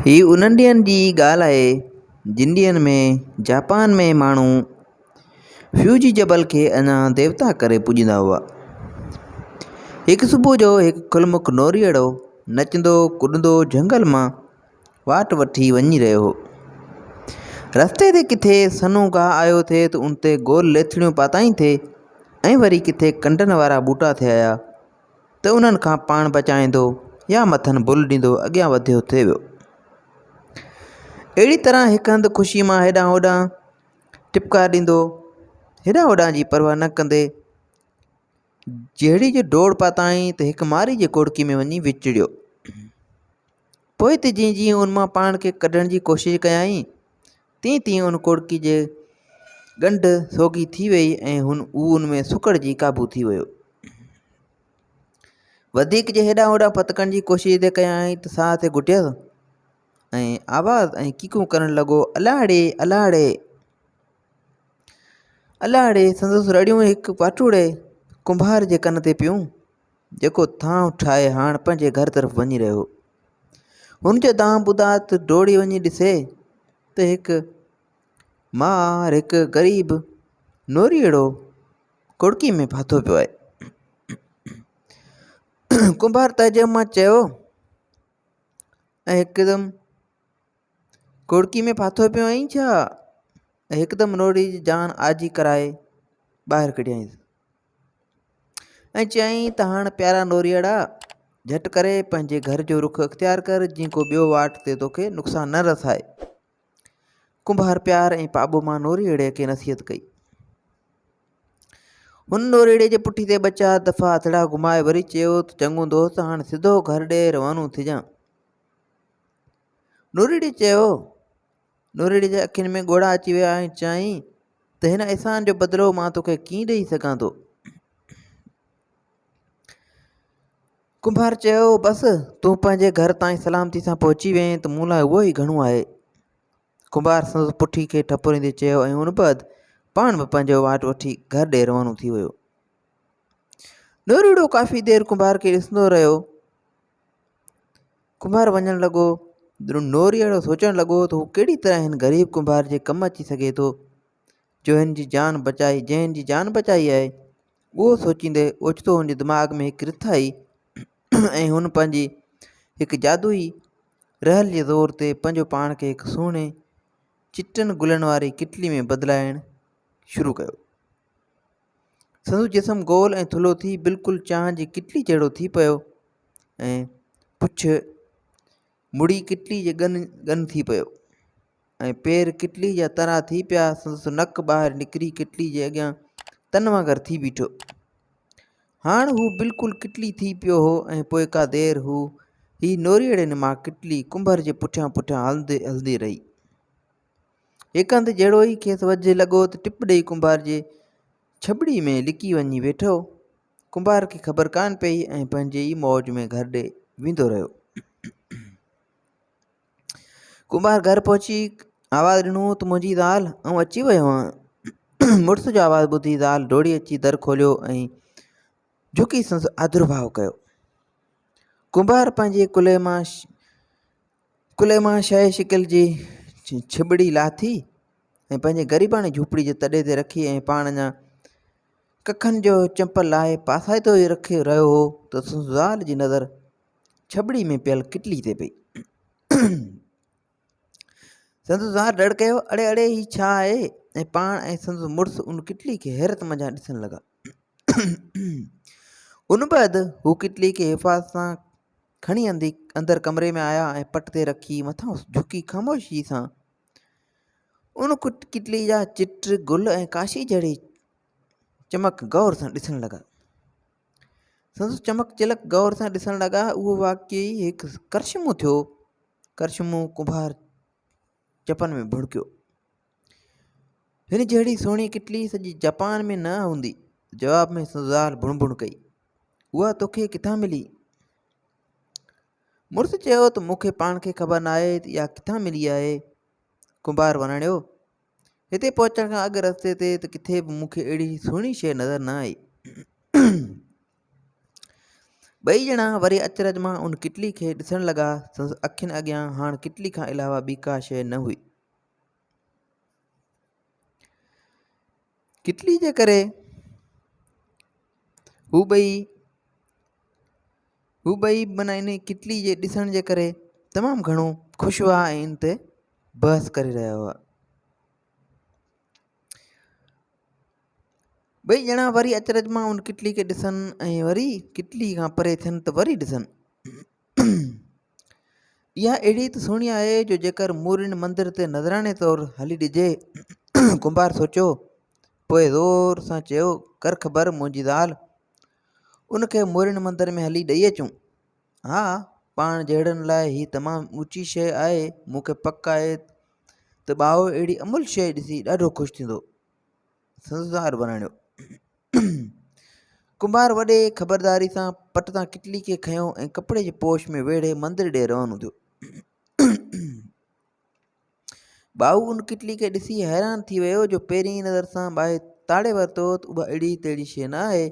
هي انهن ڏينهن جي ڳالهه آهي، جن ڏينهن ۾ جاپان ۾ ماڻهو فيوجي جبل کي اڃا ديوتا ڪري پوڄيندا هئا. هڪ صبح جو هڪ کلمک نوريئڙو نچندو ڪڏندو جهنگل مان واٽ وٺي وڃي رهيو هو. رستي تي ڪٿي سنهو گاهه آيو ٿي ته ان تي گول ليٿڙيون پاتائين ٿي ۽ وري ڪٿي ڪنڊن وارا ٻوٽا ٿي آيا. ته انهن کان پاڻ بچائيندو يا مٿن بل ڏيندو اڳيان وڌيو ٿي ويو. اهڙي طرح هڪ هنڌ خوشيء مان هيڏانهن هوڏانهن ٽپڪا ڏيندو، هيڏانهن هوڏانهن جي پرواهه نه ڪندي جهڙي جو ڊوڙ پاتائين ته هڪ مارئي جي کوڙڪي ۾ وڃي وچڙيو. پوء ته جيئن جيئن ان مان پاڻ کي ڪڍڻ جي ڪوشش ڪيائين، تيئن تيئن ان ڪوڙڪي جي ڳنڍ سوگهي ٿي ويئي ۽ هن هو ان ۾ سڪڙجي قابو ٿي ويو. وڌيڪ جي هيڏانهن هوڏانهن ڦٿڪڻ جي ڪوشش ايڏي ڪيائين ته ساهه تي گهٽيس ۽ آواز ۽ ڪيڪون ڪرڻ لڳو، الاڙي! الاڙي! الاڙي! سندس رڙيون هڪ پاٽوڙي ڪنڀار جي ڪن تي پيون. جيڪو ٿانء ٺاهي هاڻ پنهنجي گهر طرف وڃي رهيو هو. هن جو دانهن ٻڌات ڊوڙي وڃي ڏسي ته هڪ مار هڪ غريب نوريئڙو ڪڙڪي ۾ ڦاٿو پيو آهي. ڪنڀار تعجب مان چيو ۽ هڪدم ڪڙڪي ۾ ڦاٿو پيو آهين ڇا؟ هڪدم نوريئڙي جي جان آجي ڪرائي ٻاهر ڪڍيائينس. ۽ چيائين ته هاڻ پيارا نوريئڙا جهٽ ڪري پنهنجي گهر جو رخ اختيار ڪر جيئن ڪو ٻيو واٽ تي توکي نقصان نه رسائي. ڪنڀار پيار ۽ پاٻو مان نوريئڙي کي نصيحت ڪئي. هن نوريئڙي جي پٺي تي ٻه چار دفعا هٿڙا گهمائي وري چيو ته چڱو دوست هاڻ سڌو گهر ڏي روانو ٿجان. نوريئڙي چيو نورڙي جي اکين ۾ ڳوڙها اچي ويا ۽ چيائين ته هن احسان جو بدلو مان توکي ڪيئن ڏئي سگهان ٿو؟ ڪنڀار چيو بس تون پنهنجي گهر تائين سلامتي سان پهچي وئين ته مون لاء اهو ئي گهڻو آهي. ڪنڀار سندس پٺي کي ٺپوريندي چيو ۽ ان بعد پاڻ به پنهنجو واٽ وٺي گهر ڏي روانو ٿي ويو. نورڙو ڪافي دير ڪنڀار کي ڏسندو رهيو. ڪنڀار وڃڻ لڳو. نوري اهڙو سوچڻ لڳو ته هو ڪهڙي طرح هن غريب ڪنڀار جي ڪم اچي سگهي ٿو، جو هن جي جان بچائي، جنهن هن جي جان بچائي آهي. اهو سوچيندي اوچتو هن جي دماغ ۾ هڪ رٿ آئي ۽ هن پنهنجي هڪ جادوئي رهل جي زور تي پنهنجو پاڻ کي هڪ سهڻي چٽن گلن واري ڪٽلي ۾ بدلائڻ شروع ڪيو. سندس جسم گول ۽ ٿلهو ٿي بلڪل چانهه جي ڪٽلي جهڙو ٿي پيو ۽ پڇ مڙي ڪٽلي جي ڳن ڳن ٿي پيو ۽ پير ڪٽلي جا ترا ٿي پيا سندس نڪ ٻاهر نڪري ڪٽلي جي اڳيان تن وانگر ٿي بيٺو هاڻ هو بلڪل ڪٽلي ٿي پيو هو ۽ پوء ڪا دير هو هي نوريئڙي نما ڪٽلي ڪنڀر جي پٺيان پٺيان هلندي هلندي رهي هڪ هنڌ جهڙو ئي کيس وجهه لڳو ته ٽپ ڏئي ڪنڀار جي ڇٻڙي ۾ لڪي وڃي ويٺو. ڪنڀار کي خبر ڪانه پئي ۽ پنهنجي ئي موج ۾ گهر ڏي ويندو رهيو. ڪنڀار گهر پهچي آواز ڏنو ته منهنجي زال آئون اچي ويو آهيان. مڙس جو آواز ٻڌي زال ڊوڙي اچي در کوليو ۽ جهڪي سندس آدرڀاء ڪيو. ڪنڀار پنهنجي ڪلهي مان ڪلهي مان شاهي شڪل جي ڇٻڙي لاٿي ۽ پنهنجي غريباڻي جهوپڙي جي تڏي تي رکي ۽ پاڻ اڃا ڪکن جو چمپل لاهي پاسائتو ئي رکي رهيو هو ته سندس زال جي نظر ڇٻڙي ۾ پيل ڪٽلي تي پئي سندس زال ڏڙ ڪيو اڙي اڙي هي ڇا آهي ۽ پاڻ ۽ سندس مڙس ان ڪٽلي کي حيرت منجهان ڏسڻ لڳا ان بعد هو ڪٽلي کي حفاظت سان کڻي اندي اندر ڪمري ۾ آيا ۽ پٽ تي رکي مٿان جهڪي خاموشي سان ان ڪٽلي جا چٽ گل ۽ ڪاشي جهڙي چمڪ غور سان ڏسڻ لڳا سندس چمڪ چلڪ غور سان ڏسڻ لڳا اهو واقعي هڪ ڪرشمو ٿيو ڪرشمو ڪنڀار چپن ۾ ڀڙڪيو هن جهڙي سهڻي ڪٽلي سڄي جپان ۾ نه هوندي. جواب ۾ سندس زال بڻ بڻ ڪئي. اها توکي ڪٿان ملي؟ مڙس چيو ته مون کي پاڻ کي خبر نه آهي ته اها ڪٿان ملي آهي. ڪنڀار وراڻيو. هتي پهچڻ کان اڳ رستي تي ته ڪٿي به مون کي اهڙي سهڻي شيء نظر نه آئي. ٻئي ڄڻا وري اچرج مان ان ڪٽلي کي ڏسڻ لڳا. سندس اکين اڳيان هاڻ ڪٽلي کان علاوه ٻي ڪا شيء نه هئي. ڪٽلي جي ڪري هو ٻئي هو ٻئي منا ان ڪٽلي جي ڏسڻ جي ڪري تمام گهڻو خوش هئا ۽ ان تي بحث ڪري رهيا هئا ٻئي ڄڻا وري اچرج مان ان ڪٽلي کي ڏسن ۽ وري ڪٽلي کان پري ٿين ته وري ڏسن اها اهڙي ته سهڻي آهي جو جيڪر مورين مندر تي نذراڻي طور هلي ڏجي. ڪنڀار سوچيو. پوء زور سان چيو ڪر خبر منهنجي زال. ان کي مورين مندر ۾ هلي ڏئي اچون. ها پاڻ جهڙن لاء هي تمام اوچي شيء آهي. مون کي پڪ آهي ته ٻاهو اهڙي املهه شيء ڏسي ڏاڍو خوش ٿيندو. سنڌدار وراڻيو. ڪنڀار وڏي خبرداري سان پٽ تان ڪٽلي کي کنيو ۽ ڪپڙي جي پوش ۾ ويڙهي مندر ڏي روانو ٿيو ٻائو ان ڪٽلي کي ڏسي حيران ٿي ويو جو پهرين ئي نظر سان ٻاهي تاڙي ورتو ته اها اهڙي تهڙي شيء نه آهي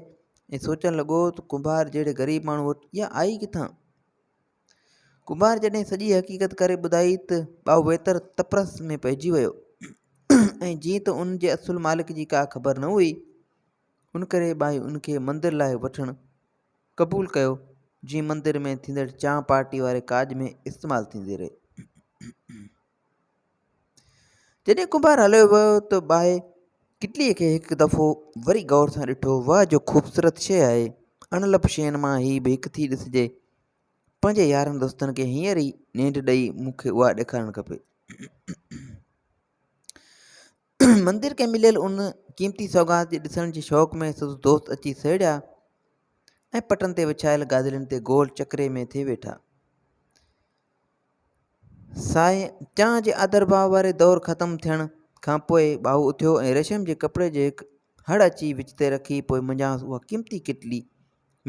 ۽ سوچڻ لڳو ته ڪنڀار جهڙي غريب ماڻهو وٽ اها آئي ڪٿان ڪمار جڏهن سڄي حقيقت ڪري ٻڌائي ته ٻائو ويتر تپرس ۾ پئجي ويو ۽ جيئن ته ان جي اصل مالڪ جي ڪا خبر نه هئي ان ڪري ٻائي ان کي مندر لاء وٺڻ قبول ڪيو جيئن مندر ۾ ٿيندڙ چانهه پارٽي واري ڪاڄ ۾ استعمال ٿيندي رهي جڏهن ڪمار هليو ويو ته ٻائي ڪٽليء کي هڪ دفعو وري غور سان ڏٺو واهه جو خوبصورت شيء آهي اڻ لڀ شين مان هي به هڪ ٿي ڏسجي پنهنجي يارن دوستن کي هينئر ئي نينڍ ڏئي مون کي اها ڏيکارڻ کپي. مندر کي مليل ان قيمتي سوغات جي ڏسڻ جي شوق ۾ سندس دوست اچي سهيڙيا ۽ پٽن تي وڇايل گادلين تي گول چڪري ۾ ٿي ويٺا ساهي چانه جي آدر ڀاء واري دور ختم ٿيڻ کان پوء ٻاهو اٿيو ۽ ريشم جي ڪپڙي جي هڪ هڙ اچي وچ تي رکي پوء منجهانس اها قيمتي ڪٽلي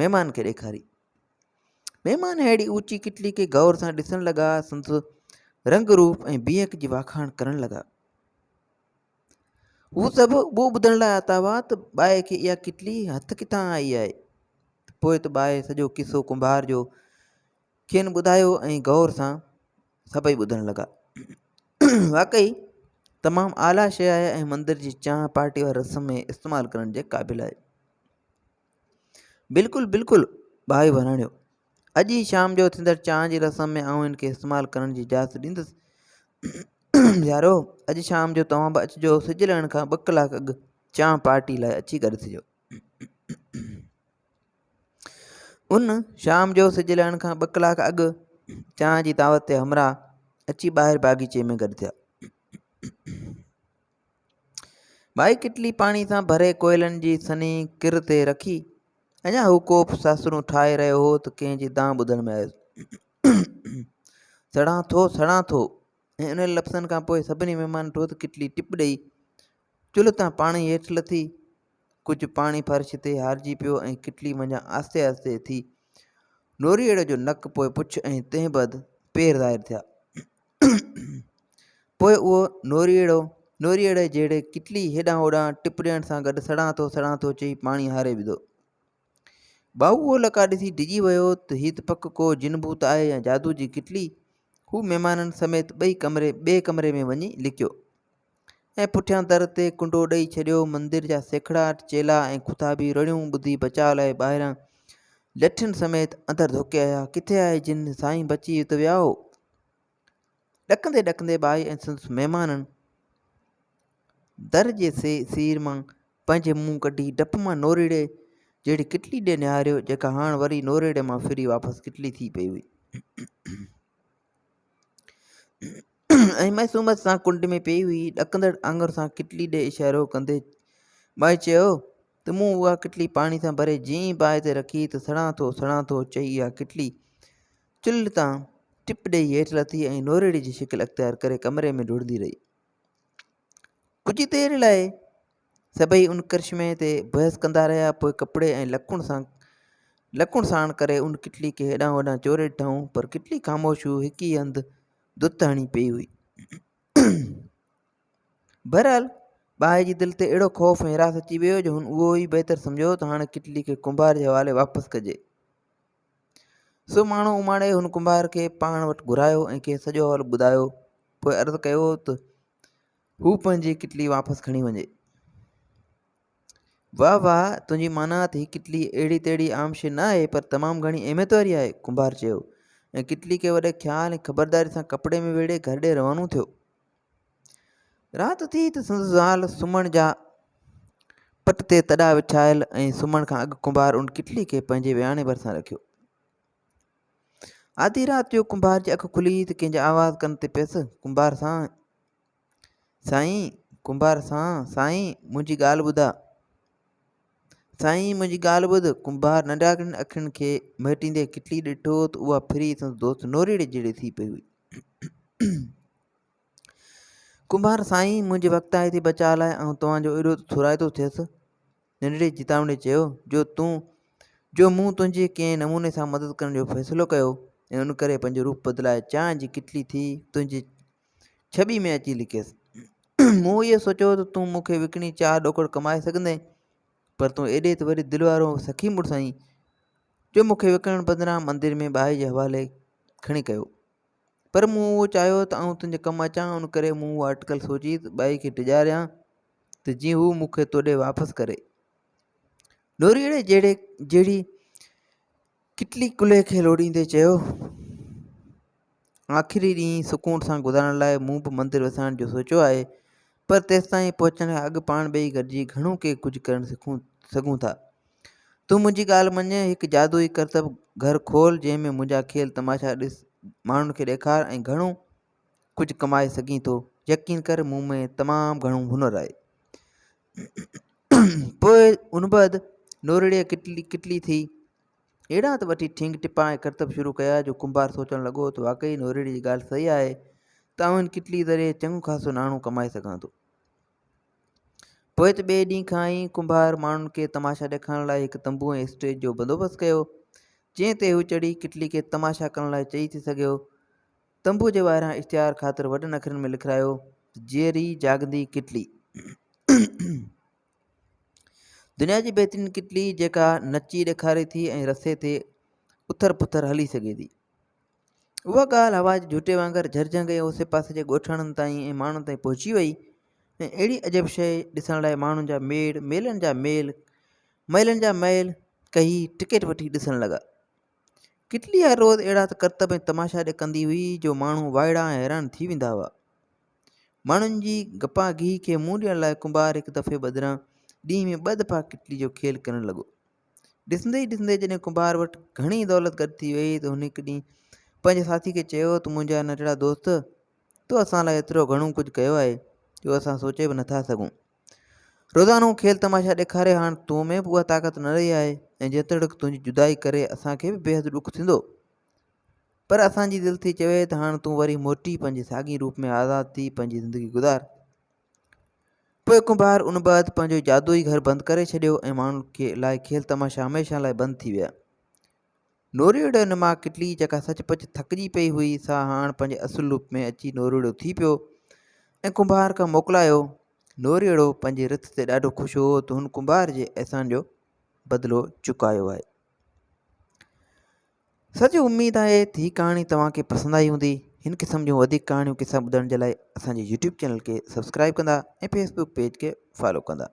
مهمان کي ڏيکاري مهمان اهڙي اوچي ڪٽلي کي غور سان ڏسڻ لڳا، سندس رنگ روپ ۽ بيهڪ جي واکاڻ ڪرڻ لڳا. هو سڀ اهو ٻڌڻ لاء آتا هئا ته ٻائي کي اها ڪٽلي هٿ ڪٿان آئي آهي. پوء ته ٻائي سڄو قصو ڪنڀار جو کين ٻڌايو ۽ غور سان سڀئي ٻڌڻ لڳا. واقعي تمام اعليٰ شيء آهي ۽ مندر جي چانهه پارٽي واري رسم ۾ استعمال ڪرڻ جي قابل آهي. بلڪل بلڪل ڀائي وراڻيو اڄ ئي شام جو ٿيندڙ چانھ جي رسم ۾ آئون ھن کي استعمال ڪرڻ جي اجازت ڏيندس يارو اڄ شام جو توھان به اچجو سج لھڻ کان ٻه ڪلاڪ اڳ چانھ پارٽي لاء اچي گڏ ٿجو ان شام جو سج لھڻ کان ٻه ڪلاڪ اڳ چانھ جي دعوت تي ھمراھ اچي ٻاھر باغيچي ۾ گڏ ٿيا ٻائي ڪٽلي پاڻي سان ڀري ڪوئلن جي سنهي ڪر تي رکي اڃا هو ڪوپ ساسرون ٺاهي رهيو هو ته ڪنهن جي دانهن ٻڌڻ ۾ آيس سڙان ٿو سڙان ٿو ۽ انهن لفظن کان پوء سڀني مهمان ٽوء ته ڪٽلي ٽپ ڏئي چلهه تان پاڻي هيٺ لٿي ڪجهه پاڻي فرش تي هارجي پيو ۽ ڪٽلي منجهان آهستي آهستي ٿي نوريئڙ جو نڪ پوء پڇ ۽ تنهن بعد پير ظاهر ٿيا پوء اهو نوريئڙو نوريئڙي جهڙي ڪٽلي هيڏانهن هوڏانهن ٽپ ڏيڻ سان گڏ سڙان ٿو سڙان ٿو چئي پاڻي هاري وڌو ٻائو اهو لڪا ڏسي ڊڄي ويو ته هي ته پڪ ڪو جن ڀوت آهي يا جادو جي ڪٽلي هو مهمانن سميت ٻئي ڪمري ٻئي ڪمري ۾ وڃي لڪيو ۽ پٺيان در تي ڪنڊو ڏئي ڇڏيو. مندر جا سيکڙاٽ، چيلا ۽ خطابي رڙيون ٻڌي بچاء لاء ٻاهران لٺين سميت اندر ڌوڪي آيا. ڪٿي آهي جن؟ سائين بچي ات ويا هو. ڏڪندي ڏڪندي ٻائي ۽ سندس مهمانن در جي سير مان پنهنجي منهن ڪڍي ڊپ مان نوريڙي جهڙي ڪٽلي ڏي نهاريو، جيڪا هاڻ وري نوريڙي مان ڦري واپس ڪٽلي ٿي پئي هئي. ۽ معصوميت سان ڪنڊ ۾ پيئي هئي، ڏڪندڙ آڱر سان ڪٽلي ڏي اشارو ڪندي ٻائي چيو ته مون اها ڪٽلي پاڻي سان ڀري جئين ئي باهه تي رکي ته سڙان ٿو سڙان ٿو چئي اها ڪٽلي چلهه تان ٽپ ڏيئي هيٺ لٿي ۽ نوريڙي جي شڪل اختيار ڪري ڪمري ۾ ڊوڙندي رهي ڪجهه دير لاء سڀئي ان ڪرشمي تي بحث ڪندا رهيا، پوء ڪپڙي ۽ لڪڻ سان لڪڻ ساڻ ڪري ان ڪٽلي کي هيڏانهن هوڏانهن چوري ڏٺائون، پر ڪٽلي خاموش هو، هڪ ئي هنڌ دت هڻي پيئي هئي. بهرحال ٻانهي جي دل تي اهڙو خوف ۽ هراس اچي ويو جو هن اهو ئي بهتر سمجهيو ته هاڻي ڪٽلي کي ڪنڀار جي حوالي واپس ڪجي. سو ماڻهو اماڻي هن ڪنڀار کي پاڻ وٽ گهرايو ۽ کيس سڄو حوالو ٻڌايو، پوء عرض ڪيو ته هو پنهنجي ڪٽلي واپس کڻي وڃي. واه واه تنهنجي مانائت هي ڪٽلي اهڙي تهڙي عام شيء نه آهي پر تمام گهڻي اهميت واري آهي. ڪنڀار چيو ۽ ڪٽلي کي وڏي خيال ۽ خبرداري سان ڪپڙي ۾ ويڙهي گهر ڏي روانو ٿيو. رات ٿي ته سندس زال سمهڻ جا پٽ تي تڏا وڇايل ۽ سمهڻ کان اڳ ڪنڀار ان ڪٽلي کي پنهنجي وياڻي ڀرسان رکيو. آڌي رات جو ڪنڀار جي اک کلي ته ڪنهن جي آواز ڪن تي پيس، ڪنڀار سان سائين ڪنڀار سان سائين منهنجي ڳالهه ٻڌاء. سائين منهنجي ڳالهه ٻڌ، ڪنڀار ننڍاڳڙين اکين کي مهٽيندي ڪٽلي ڏٺو ته اها ڦري سندس دوست نوريڙي جهڙي ٿي پئي هئي. ڪنڀار سائين منهنجي وقت آئي ٿي بچاء لاء آئون توهان جو ايڏو ٿورائتو ٿيس. ننڍڙي چيتاوڻي چيو جو تون جو مون تنهنجي ڪنهن نموني سان مدد ڪرڻ جو فيصلو ڪيو ۽ ان ڪري پنهنجو روپ بدلائي چانهه جي ڪٽلي ٿي تنهنجي ڇٻي ۾ اچي لڪيس. مون اهو سوچيو ته تون مون کي وڪڻي چار ڏوڪڙ ڪمائي سگهندين پر تون ايڏي ته وڏي دل وارو سخي مڙس آهين جو مون کي وڪڻڻ بدران مندر ۾ ٻائي جي حوالي کڻي ڪيو. پر مون اهو چاهيو ته آئون تنهنجي ڪم اچان، ان ڪري مون اها اٽڪل سوچي ته ٻائي کي ڊيڄاريان ته جيئن هو مون کي توڏي واپس ڪري. لوريئڙي جهڙي جهڙي ڪٽلي ڪلهي کي لوڏيندي چيو. آخري ڏينهن سڪون سان گذارڻ لاء مون به مندر وسائڻ جو سوچيو آهي، پر تيستائين پهچڻ کان اڳ پاڻ ٻئي گڏجي گهڻو ڪي ڪجهه ڪرڻ سکون سگهون ٿا. تون منهنجي ڳالهه مڃ، هڪ جادوئي ڪرتب گهر کول جنهن ۾ منهنجا کيل تماشا ڏس، ماڻهن کي ڏيکار ۽ گهڻو ڪجهه ڪمائي سگهين ٿو. يقين ڪر مون ۾ تمام گهڻو هنر آهي. پوء ان بعد نورڙيء ڪٽلي ڪٽلي ٿي اهڙا ته وٺي ٺينگ ٽپا ۽ ڪرتب شروع ڪيا جو ڪنڀار سوچڻ لڳو ته واقعي نورڙيء جي ڳالهه صحيح آهي ته آئون هن ڪٽلي ذريعي چڱو خاصو ناڻو ڪمائي سگهان ٿو. پوء ته ٻئي ڏينهن کان ئي ڪنڀار ماڻهن کي تماشا ڏيکارڻ لاء هڪ تنبو ۽ اسٽيج جو بندوبست ڪيو، جنهن تي هو چڙهي ڪٽلي کي تماشا ڪرڻ لاء چئي ٿي سگهيو. تنبوء جي ٻاهران اشتهار خاطر وڏن اکرن ۾ لکرايو ته جيئري جاڳندي ڪٽلي. دنيا جي بهترين ڪٽلي جيڪا نچي ڏيکاري ٿي ۽ رسي تي اٿر پٿر هلي سگهي ٿي. اها ڳالهه هوا جي جهوٽي وانگر جهرجهنگ ۽ اوسي پاسي جي ڳوٺاڻن تائين ۽ ماڻهن تائين پهچي ويئي ۽ اهڙي عجب شيء ڏسڻ لاء ماڻهن جا ميڙ، ميلن جا ميل، مئلن جا مئل ڪهي ٽڪيٽ وٺي ڏسڻ لڳا. ڪٽلي هر روز اهڙا ته ڪرتب ۽ تماشا ڏڪندي هئي جو ماڻهو وائڙا ۽ حيران ٿي ويندا هئا. ماڻهن جي گپا گيهي کي منهن ڏيڻ لاء ڪنڀار هڪ دفعي بدران ڏينهن ۾ ٻه دفعا ڪٽلي جو کيل ڪرڻ لڳو. ڏسندي ئي ڏسندي جڏهن ڪنڀار وٽ گهڻي دولت گڏ ٿي ويئي ته هن هڪ ڏينهن پنهنجي ساٿي کي چيو ته منهنجا ننڍڙا دوست تو اسان لاء ايترو گهڻو ڪجهه ڪيو آهي جو اسان سوچي به نٿا سگهون. روزانو کيل تماشا ڏيکاري هاڻ تو ۾ به اها طاقت نه رهي آهي ۽ جيتوڻيڪ تنهنجي جدائي ڪري اسان کي به بيحد ڏک ٿيندو پر اسان جي دل ٿي چوي ته هاڻ تون وري موٽي پنهنجي ساڳئي روپ ۾ آزاد ٿي پنهنجي زندگي گذار. پوء ڪنڀار ان بعد پنهنجو جادوئي گهر بند ڪري ڇڏيو ۽ ماڻهن کي لاء کيل تماشا هميشه لاء بند ٿي ويا. نوريڙهه نما ڪٽلي جيڪا سچ پچ ٿڪجي پئي هئي سا هاڻ پنهنجي اصل روپ ۾ اچي نوريڙهو ٿي پيو ۽ ڪنڀار کان موڪلايو. نوريڙهو پنهنجي رٿ تي ڏاڍو خوش هو ته هن ڪنڀار جي احسان جو بدلو چڪايو آهي. سڄي اميد آهي ته هي ڪهاڻي توهان کي پسند آئي هوندي هن قسم جون وڌيڪ ڪهاڻيون قصا ٻڌڻ جي لاء اسان جي يوٽيوب چينل کي سبسڪرائب ڪندا ۽ فيسبوڪ پيج کي فالو ڪندا.